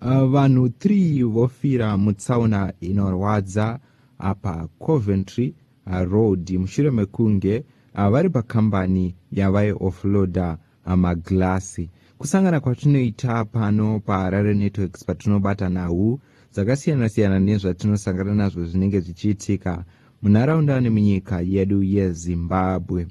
Uh, vanhu 3 vofira mutsaona inorwadza apa Coventry uh, Road mushure mekunge uh, vari pakambani yavaioffloada uh, maglassy. Kusangana kwatinoita pano paHarare Networks patinobata nhau dzakasiyana-siyana nezvatinosangana nazvo zvinenge zvichiitika munharaunda nemunyika yedu yeZimbabwe.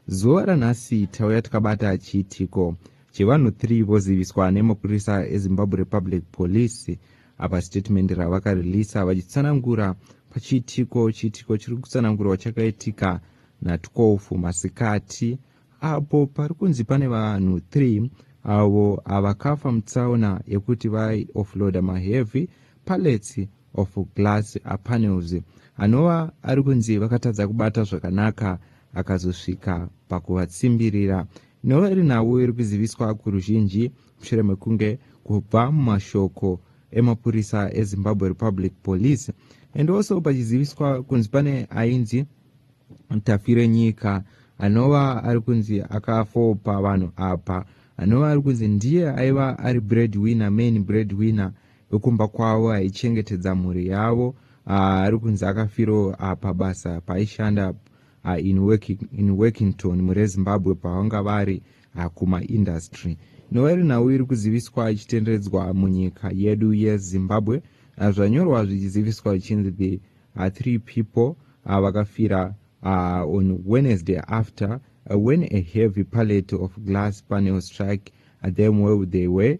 Zuva ranhasi tauya tikabata chiitiko Chivanhu 3 voziviswa nemapurisa eZimbabwe Republic Police apa statement ravakareleasa vachitsanangura pachiitiko chiitiko chiri kutsanangurwa chakaitika na12 masikati apo pari kunzi pane vanhu 3 avo avakafa mutsaona yekuti vaioffloada maheavy pallets of glass panels anova ari kunzi vakatadza kubata zvakanaka akazosvika pakuvatsimbirira inova iri nhau iri kuziviswa kuruzhinji mushure mekunge kubva mumashoko emapurisa ezimbabwe republic police and also pachiziviswa kunzi pane ainzi tafire nyika anova ari kunzi akafopa vanhu apa anova ari kunzi ndiye aiva ari bread winner main bread winner wekumba kwavo aichengetedza mhuri yavo ah, ari kunzi akafiro ah, pabasa paaishanda ah, in, working, in workington murezimbabwe pavanga vari kumaindustry inova iri nhau iri kuziviswa ichitenderedzwa munyika yedu yezimbabwe zvanyorwa zvichiziviswa zvichinzi the uh, three people uh, vakafira uh, on wednesday after uh, when a heavy pallet of glass panel struck uh, them where they were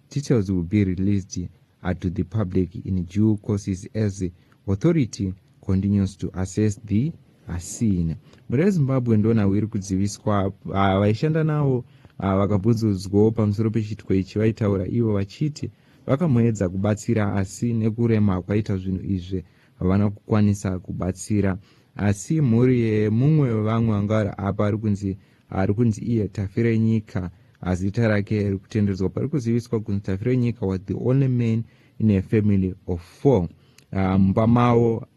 Details will be released uh, to the public in due courses as authority continues to assess the uh, scene. Mhuri yeZimbabwe ndona wiri kudziviswa uh, vaishanda navo vakabvunzudzwawo pamusoro pechiitiko ichi vaitaura ivo vachiti vakamboedza kubatsira asi nekurema kwaita zvinhu izvi havana kukwanisa kubatsira asi mhuri yemumwe vevamwe vanga vari apa ari kunzi Ari kunzi iye Tafirenyika asi zita rake riri kutendedzwa pari kuziviswa kunzi Tafirenyika was the only man in a family of four. Ah, mumba um, mavo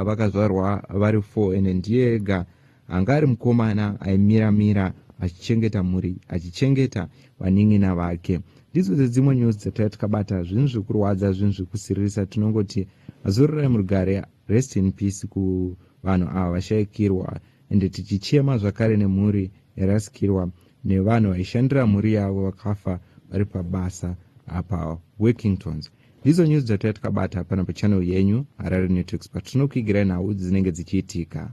vakazvarwa vari four ende ndiye ega anga ari mukomana aimira mira achichengeta mhuri achichengeta vanin'ina vake ndidzo dzedzimwe news dzataiva tikabata zvinhu zvekurwadza zvinhu zvekusiririsa tinongoti azororai murugare rest in peace kuvanhu ava vashaikirwa ende tichichema zvakare nemhuri yarasikirwa nevanhu vaishandira mhuri yavo vakafa vari pabasa apa workingtons ndidzo nyuzi dzataiya tikabata hapana pachanel yenyu harare networks patinokuigirai nhau dzinenge dzichiitika